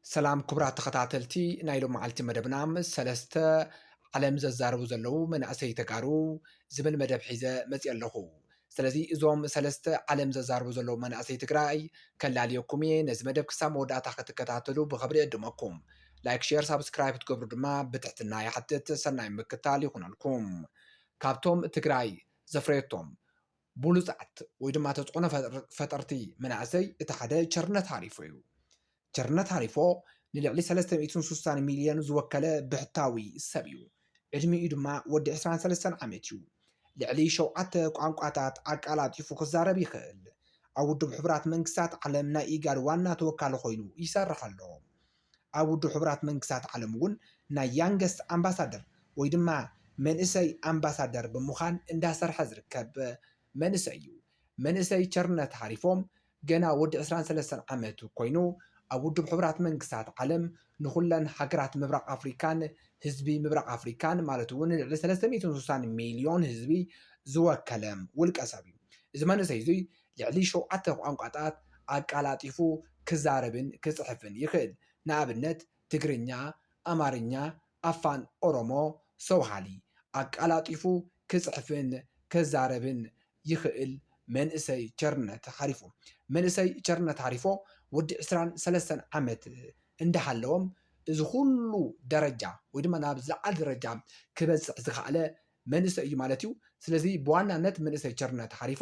ሰላም ክቡራት ተኸታተልቲ ናይ ሎማዓልቲ መደብና ምስ ሰለስተ ዓለም ዘዛርቡ ዘለዉ መናእሰይ ተጋሩ ዝብል መደብ ሒዘ መፂኣ ኣለኹ። ስለዚ እዞም ሰለስተ ዓለም ዘዛርቡ ዘለዉ መናእሰይ ትግራይ ከላልየኩም እየ። ነዚ መደብ ክሳብ መወዳእታ ክትከታተሉ ብኽብሪ እዕድመኩም። ላይክ ሼር ሳብስክራይብ ክትገብሩ ድማ ብትሕትና ይሓትት። ሰናይ ምክታል ይኹነልኩም። ካብቶም ትግራይ ዘፍረየቶም ብሉጻት ወይ ድማ ተጽዕኖ ፈጠርቲ መናእሰይ እቲ ሓደ ቸርነት ሃሪፎ እዩ። ቸርነት ሃሪፎ ንልዕሊ ሰለስተ ሚእትን ስሳን ሚልዮን ዝወከለ ብሕታዊ ሰብ እዩ። ዕድሚኡ ድማ ወዲ ዕስራን ሰለስተን ዓመት እዩ። ልዕሊ ሸውዓተ ቋንቋታት ኣቃላጢፉ ክዛረብ ይኽእል። ኣብ ውድብ ሕቡራት መንግስታት ዓለም ናይ ኢጋድ ዋና ተወካሊ ኮይኑ ይሰርሕ ኣሎ። ኣብ ውድብ ሕቡራት መንግስታት ዓለም እውን ናይ ያንገስት ኣምባሳደር ወይ ድማ መንእሰይ ኣምባሳደር ብምዃን እንዳሰርሐ ዝርከብ መንእሰይ እዩ። መንእሰይ ቸርነት ሃሪፎም ገና ወዲ ዕስራን ሰለስተን ዓመት ኮይኑ ኣብ ውድብ ሕቡራት መንግስታት ዓለም ንኹለን ሃገራት ምብራቕ ኣፍሪካን ህዝቢ ምብራቕ ኣፍሪካን ማለት እውን ልዕሊ ሰለስተ ሚእትን ስሳን ሚልዮን ህዝቢ ዝወከለ ውልቀ ሰብ እዩ። እዚ መንእሰይ እዙይ ልዕሊ ሸውዓተ ቋንቋታት ኣቀላጢፉ ክዛረብን ክጽሕፍን ይኽእል፣ ንኣብነት ትግርኛ፣ ኣማርኛ፣ ኣፋን ኦሮሞ፣ ሰውሃሊ። ኣቀላጢፉ ክጽሕፍን ክዛረብን ይኽእል መንእሰይ ቸርነት ሃሪፎ። መንእሰይ ቸርነት ሃሪፎ ወዲ ዕስራን ሰለስተን ዓመት እንዳሃለወም እዚ ኩሉ ደረጃ ወይ ድማ ናብ ዝለዓለ ደረጃ ክበጽሕ ዝኸኣለ መንእሰይ እዩ ማለት እዩ። ስለዚ ብዋናነት መንእሰይ ቸርነት ሃሪፎ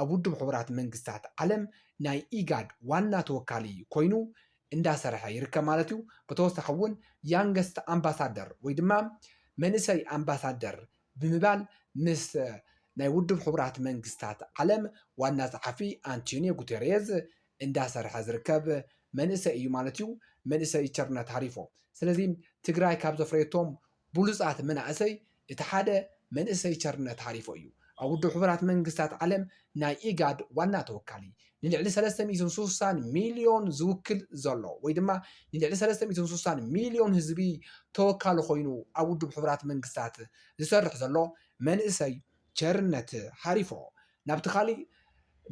ኣብ ውድብ ሕቡራት መንግስታት ዓለም ናይ ኢጋድ ዋና ተወካሊ ኮይኑ እንዳሰርሐ ይርከብ ማለት እዩ። ብተወሳኺ እውን ያንገስት ኣምባሳደር ወይ ድማ መንእሰይ ኣምባሳደር ብምባል ምስ ናይ ውድብ ሕቡራት መንግስታት ዓለም ዋና ጸሓፊ ኣንቲንዮ ጉቴሬዝ እንዳሰርሐ ዝርከብ መንእሰይ እዩ ማለት እዩ መንእሰይ ቸርነት ሃሪፎ። ስለዚ ትግራይ ካብ ዘፍረየቶም ብሉጻት መናእሰይ እቲ ሓደ መንእሰይ ቸርነት ሃሪፎ እዩ። ኣብ ውድብ ሕቡራት መንግስታት ዓለም ናይ ኢጋድ ዋና ተወካሊ፣ ንልዕሊ ሰለስተ ሚእትን ስሳን ሚልዮን ዝውክል ዘሎ ወይ ድማ ንልዕሊ ሰለስተ ሚእትን ስሳን ሚልዮን ህዝቢ ተወካሊ ኮይኑ ኣብ ውድብ ሕቡራት መንግስታት ዝሰርሕ ዘሎ መንእሰይ ቸርነት ሃሪፎ ናብቲ ካሊእ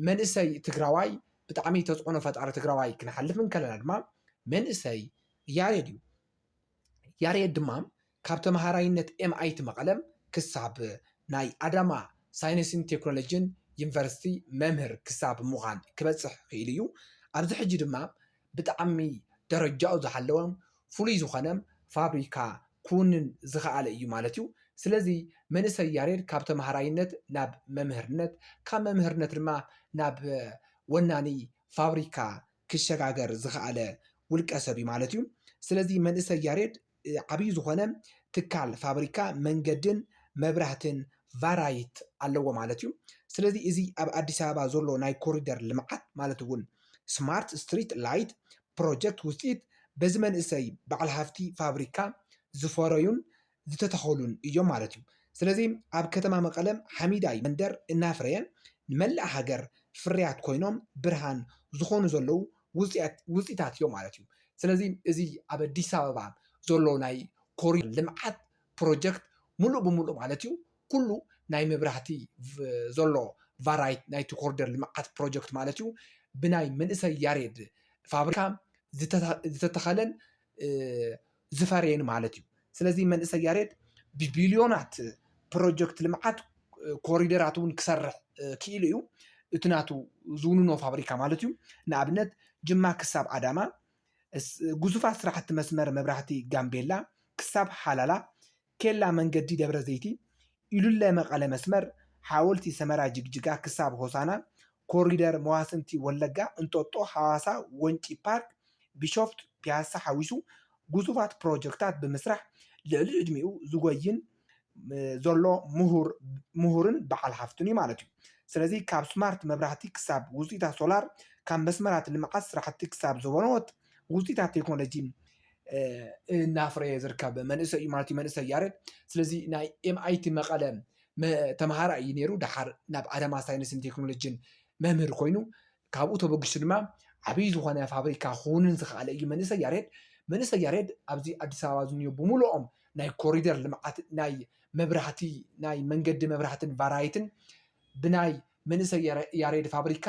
መንእሰይ ትግራዋይ ብጣዕሚ ተፅዕኖ ፈጣሪ ትግራዋይ ክንሓልፍ እንከለና ድማ መንእሰይ ያሬድ እዩ። ያሬድ ድማ ካብ ተምሃራይነት ኤምኣይቲ መቐለ ክሳብ ናይ ኣዳማ ሳይንስን ቴክኖሎጂን ዩኒቨርሲቲ መምህር ክሳብ ምዃን ክበፅሕ ክኢሉ እዩ። ኣብዚ ሕጂ ድማ ብጣዕሚ ደረጃኡ ዝሓለወ ፍሉይ ዝኾነ ፋብሪካ ክውንን ዝኸኣለ እዩ ማለት እዩ። ስለዚ መንእሰይ ያሬድ ካብ ተምሃራይነት ናብ መምህርነት ካብ መምህርነት ድማ ናብ ወናኒ ፋብሪካ ክሸጋገር ዝኸኣለ ውልቀ ሰብ እዩ ማለት እዩ። ስለዚ መንእሰይ ያሬድ ዓብይ ዝኾነ ትካል፣ ፋብሪካ፣ መንገድን መብራህትን ቫራይት ኣለዎ ማለት እዩ። ስለዚ እዚ ኣብ ኣዲስ ኣበባ ዘሎ ናይ ኮሪደር ልምዓት ማለት እውን ስማርት ስትሪት ላይት ፕሮጀክት ውፅኢት በዚ መንእሰይ በዓል ሃፍቲ ፋብሪካ ዝፈረዩን ዝተተኸሉን እዮም ማለት እዩ። ስለዚ ኣብ ከተማ መቐለ ሓሚዳይ መንደር እናፍረየ ንመላእ ሃገር ፍርያት ኮይኖም ብርሃን ዝኾኑ ዘለዉ ውፅኢታት እዮም ማለት እዩ። ስለዚ እዚ ኣብ ኣዲስ ኣበባ ዘሎ ናይ ኮሪደር ልምዓት ፕሮጀክት ሙሉእ ብሙሉእ ማለት እዩ ኩሉ ናይ መብራህቲ ዘሎ ቫራይት ናይቲ ኮሪደር ልምዓት ፕሮጀክት ማለት እዩ ብናይ መንእሰይ ያሬድ ፋብሪካ ዝተተኸለን ዝፈረየን ማለት እዩ። ስለዚ መንእሰይ ያሬድ ብቢልዮናት ፕሮጀክት ልምዓት ኮሪደራት እውን ክሰርሕ ክኢሉ እዩ። እቲ ናቱ ዝውንኖ ፋብሪካ ማለት እዩ። ንኣብነት ጅማ ክሳብ ኣዳማ፣ ግዙፋት ስራሕቲ መስመር መብራህቲ ጋምቤላ ክሳብ ሃላላ፣ ኬላ መንገዲ ደብረ ዘይቲ፣ ኢሉለ መቐለ መስመር፣ ሓወልቲ ሰመራ ጅግጅጋ ክሳብ ሆሳና፣ ኮሪደር መዋስንቲ ወለጋ፣ እንጦጦ፣ ሃዋሳ፣ ወንጪ ፓርክ፣ ቢሾፍቱ፣ ፒያሳ ሓዊሱ ግዙፋት ፕሮጀክታት ብምስራሕ ልዕሊ ዕድሚኡ ዝጎይን ዘሎ ምሁርን በዓል ሃፍትን እዩ ማለት እዩ። ስለዚ ካብ ስማርት መብራህቲ ክሳብ ውፅኢታት ሶላር፣ ካብ መስመራት ልምዓት ስራሕቲ ክሳብ ዘበኖት፣ ውፅኢታት ቴክኖሎጂ እናፍረየ ዝርከብ መንእሰይ እዩ ማለት እዩ መንእሰይ ያሬድ። ስለዚ ናይ ኤምኣይቲ መቐለ ተምሃራይ እዩ ነይሩ። ድሓር ናብ ኣዳማ ሳይንስን ቴክኖሎጂን መምህር ኮይኑ ካብኡ ተበጊሱ ድማ ዓብዪ ዝኾነ ፋብሪካ ክውንን ዝኸኣለ እዩ መንእሰይ ያሬድ። መንእሰይ ያሬድ ኣብዚ ኣዲስ ኣበባ ዝኒኦ ብምልኦም ናይ ኮሪደር ልምዓት ናይ መብራህቲ ናይ መንገዲ መብራህትን ቫራይትን ብናይ መንእሰይ ያሬድ ፋብሪካ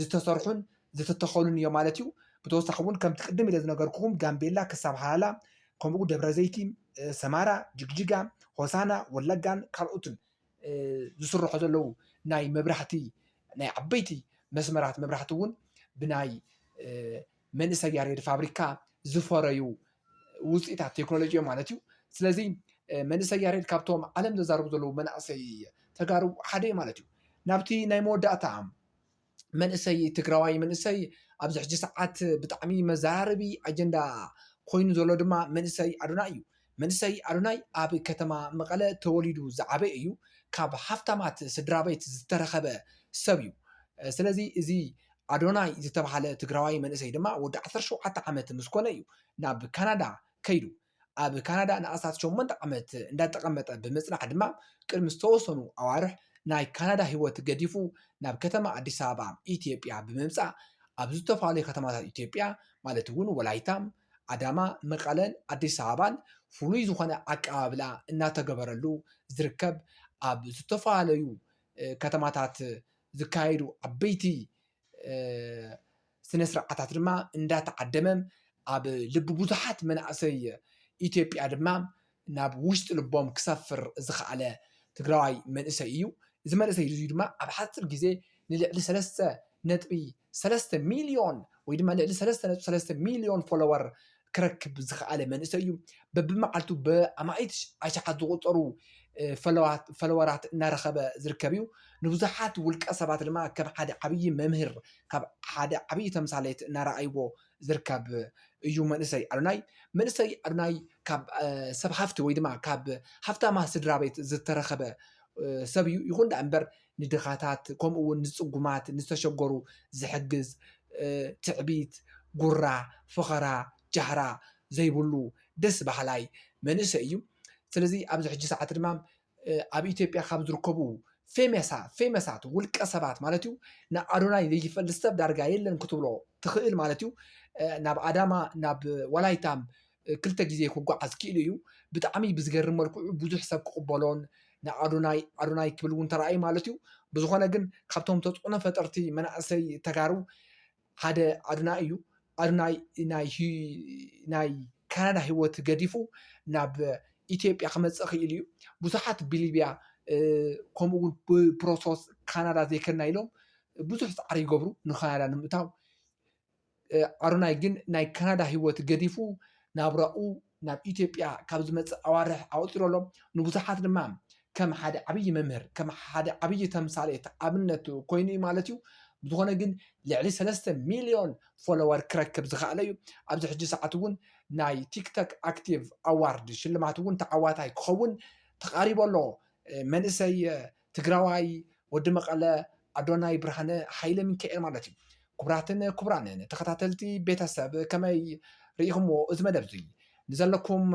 ዝተሰርሑን ዝተተኸሉን እዮም ማለት እዩ። ብተወሳኺ እውን ከምቲ ቅድም ኢለ ዝነገርኩኹም ጋምቤላ ክሳብ ሃላላ ከምኡ ደብረዘይቲ፣ ሰማራ፣ ጅግጅጋ፣ ሆሳና፣ ወለጋን ካልኦትን ዝስርሑ ዘለዉ ናይ መብራህቲ ናይ ዓበይቲ መስመራት መብራህቲ እውን ብናይ መንእሰይ ያሬድ ፋብሪካ ዝፈረዩ ውፅኢታት ቴክኖሎጂ እዮም ማለት እዩ። ስለዚ መንእሰይ ያሬድ ካብቶም ዓለም ዘዛርቡ ዘለዉ መናእሰይ ተጋሩ ሓደ እዩ ማለት እዩ። ናብቲ ናይ መወዳእታ መንእሰይ ትግራዋይ መንእሰይ ኣብዚ ሕጂ ሰዓት ብጣዕሚ መዘራረቢ ኣጀንዳ ኮይኑ ዘሎ ድማ መንእሰይ ኣዶናይ እዩ። መንእሰይ ኣዶናይ ኣብ ከተማ መቐለ ተወሊዱ ዝዓበየ እዩ። ካብ ሃፍታማት ስድራቤት ዝተረኸበ ሰብ እዩ። ስለዚ እዚ ኣዶናይ ዝተብሃለ ትግራዋይ መንእሰይ ድማ ወዲ ዓሰርተ ሸውዓተ ዓመት ምስ ኮነ እዩ ናብ ካናዳ ከይዱ። ኣብ ካናዳ ንኣስታት ሸሞንተ ዓመት እንዳተቐመጠ ብምጽናሕ ድማ ቅድሚ ዝተወሰኑ ኣዋርሕ ናይ ካናዳ ህይወት ገዲፉ ናብ ከተማ ኣዲስ ኣበባ ኢትዮጵያ ብምምጻእ ኣብ ዝተፈላለዩ ከተማታት ኢትዮጵያ ማለት እውን ወላይታ፣ ኣዳማ፣ መቐለን ኣዲስ ኣበባን ፍሉይ ዝኾነ ኣቀባብላ እናተገበረሉ ዝርከብ ኣብ ዝተፈላለዩ ከተማታት ዝካየዱ ዓበይቲ ስነ ስርዓታት ድማ እንዳተዓደመ ኣብ ልቢ ብዙሓት መናእሰይ ኢትዮጵያ ድማ ናብ ውሽጢ ልቦም ክሰፍር ዝኸኣለ ትግራዋይ መንእሰይ እዩ። እዚ መንእሰይ እዙይ ድማ ኣብ ሓፂር ግዜ ንልዕሊ ሰለስተ ነጥቢ ሰለስተ ሚልዮን ወይ ድማ ልዕሊ ሰለስተ ነጥቢ ሰለስተ ሚልዮን ፎሎወር ክረክብ ዝኸኣለ መንእሰይ እዩ። በብመዓልቱ ብኣማኢት ኣሽሓት ዝቑጸሩ ፈለወራት እናረኸበ ዝርከብ እዩ። ንብዙሓት ውልቀ ሰባት ድማ ከም ሓደ ዓብዪ መምህር ካብ ሓደ ዓብዪ ተምሳሌት እናረኣይዎ ዝርከብ እዩ መንእሰይ ኣዶናይ። መንእሰይ ኣዶናይ ካብ ሰብ ሃፍቲ ወይ ድማ ካብ ሃፍታማ ስድራ ቤት ዝተረኸበ ሰብ እዩ። ይኹን ደኣ እምበር ንድኻታት ከምኡ እውን ንፅጉማት ንዝተሸገሩ ዝሕግዝ ትዕቢት ጉራ ፈኸራ ጃህራ ዘይብሉ ደስ በሃላይ መንእሰይ እዩ ስለዚ ኣብዚ ሕጂ ሰዓት ድማ ኣብ ኢትዮጵያ ካብ ዝርከቡ ፌመሳ ፌመሳት ውልቀ ሰባት ማለት እዩ ንኣዶናይ ዘይፈልጥ ሰብ ዳርጋ የለን ክትብሎ ትኽእል ማለት እዩ ናብ ኣዳማ ናብ ወላይታ ክልተ ግዜ ክጎዓዝ ክኢሉ እዩ። ብጣዕሚ ብዝገርም መልክዑ ብዙሕ ሰብ ክቕበሎን ንኣዶናይ ኣዶናይ ክብል እውን ተራእዩ ማለት እዩ። ብዝኾነ ግን ካብቶም ተፅዕኖ ፈጠርቲ መናእሰይ ተጋሩ ሓደ ኣዶናይ እዩ። ኣዶናይ ናይ ናይ ካናዳ ህይወት ገዲፉ ናብ ኢትዮጵያ ክመፅእ ክኢሉ እዩ። ብዙሓት ብሊብያ ከምኡ እውን ብፕሮሰስ ካናዳ ዘይከድና ኢሎም ብዙሕ ፃዕሪ ይገብሩ ንካናዳ ንምእታው። ኣሮናይ ግን ናይ ካናዳ ህይወት ገዲፉ ናብራኡ ናብ ኢትዮጵያ ካብ ዝመጽእ ኣዋርሕ ኣቑጺሩ ኣሎ። ንብዙሓት ድማ ከም ሓደ ዓብዪ መምህር፣ ከም ሓደ ዓብዪ ተምሳሌት፣ ኣብነት፣ ኮይኑ እዩ ማለት እዩ። ብዝኾነ ግን ልዕሊ ሰለስተ ሚልዮን ፎሎወር ክረክብ ዝኸኣለ እዩ። ኣብዚ ሕጂ ሰዓት እውን ናይ ቲክቶክ ኣክቲቭ ኣዋርድ ሽልማት እውን ተዓዋታይ ክኸውን ተቓሪቡ ኣሎ። መንእሰይ ትግራዋይ ወዲ መቐለ ኣዶናይ ብርሃነ ሃይለ ሚካኤል ማለት እዩ። ኩቡራትን ኩቡራንን ተኸታተልቲ ቤተሰብ ከመይ ርኢኹምዎ እዚ መደብ እዙይ? ንዘለኩም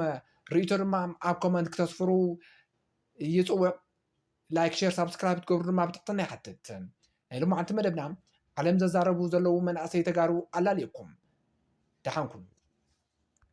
ርኢቶ ድማ ኣብ ኮመንት ክተስፍሩ ይፅውዕ። ላይክ ሼር ሳብስክራይብ ትገብሩ ድማ ብትሕትና ይሓትት። ናይ ሎማዓንቲ መደብና ዓለም ዘዛረቡ ዘለዉ መናእሰይ ተጋሩ ኣላልየኩም ደሓን ኩኑ።